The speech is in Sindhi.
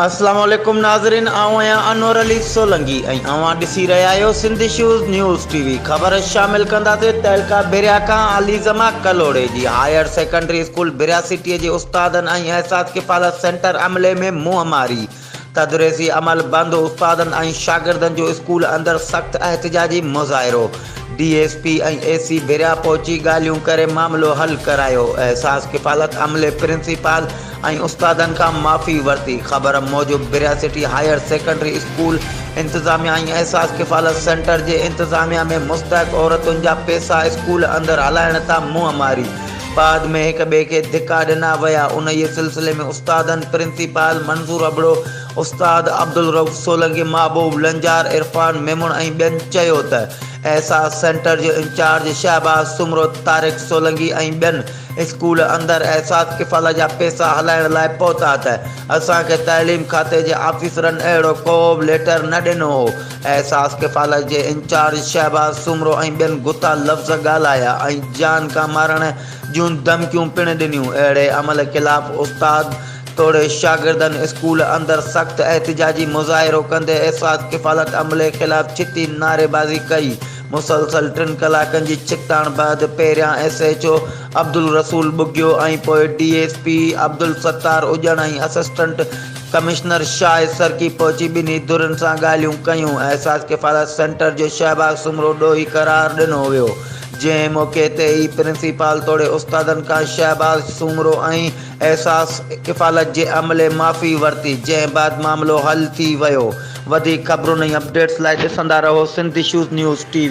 السلام عليڪم ناظرين آئون آهيان انور علي سولنگي ۽ اوهان ڏسي رهيا آهيو Sindh issues news T V خبر شامل ڪنداسين تعلقه بريا کان عليزما ڪلهوڙي جي higher secondary school Bhiria city جي استادن ۽ احساس ڪفالت سينٽر عملي ۾ منهن ماري تدريسي عمل بند، استادن ۽ شاگردن جو اسڪول اندر سخت احتجاجي مظاهرو، D S P ۽ A C Bhiria پهچي ڳالهيون ڪري معاملو حل ڪرايو، احساس ڪفالت عملي پرنسپال ۽ استادن کان معافي ورتي، خبر موجب Bhiria city higher secondary school انتظاميا ۽ احساس ڪفالت سينٽر جي انتظاميا ۾ مستحق عورتن جا پيسا اسڪول اندر هلائڻ تان منهن ماري بعد ۾ هڪ ٻئي کي ڌڪا ڏنا ويا. انهيء سلسلي ۾ استادن، پرنسپال منظور ابڙو، استاد عبدالرئوف سولنگي، محبوب لنجار، عرفان ميمڻ ۽ ٻين چيو ته احساس سينٽر جو انچارج شهباز سومرو، طارق سولنگي ۽ ٻين اسڪول اندر احساس ڪفاله جا پئسا هلائڻ لاء پهتا ته اسان کي تعليم کاتي جي آفيسرن اهڙو ڪوبه ليٽر نه ڏنو هو. احساس ڪفالت جي انچارج شهباز سومرو ۽ ٻين گٿا لفظ ڳالهايا ۽ جان کان مارڻ جون ڌمڪيون پڻ ڏنيون. اهڙي عمل خلاف استاد توڙي شاگردن اسڪول اندر سخت احتجاجي مظاهرو ڪندي احساس ڪفالت عملي خلاف ڇتي نعريبازي ڪئي. مسلسل ٽن ڪلاڪن جي ڇڪتاڻ بعد پهريان S H O Abdul Rasool Bughio ۽ پوء ڊي ايس پي عبدالستار اڄڻ ۽ اسسٽنٽ ڪمشنر شاهه سرڪي پهچي ٻنهي ڌرين سان ڳالهيون ڪيون، احساس ڪفاله سينٽر جو شهباز سومرو ڏوهي قرار ڏنو ويو، جنهن موقعي تي ئي پرنسيپال توڙي استادن کان شهباز سومرو ۽ احساس ڪفالت جي عملي معافي ورتي، جنهن بعد معاملو حل ٿي ويو، وڌيڪ خبرون ۽ اپڊيٽس لاء ڏسندا رهو Sindh issues news T V.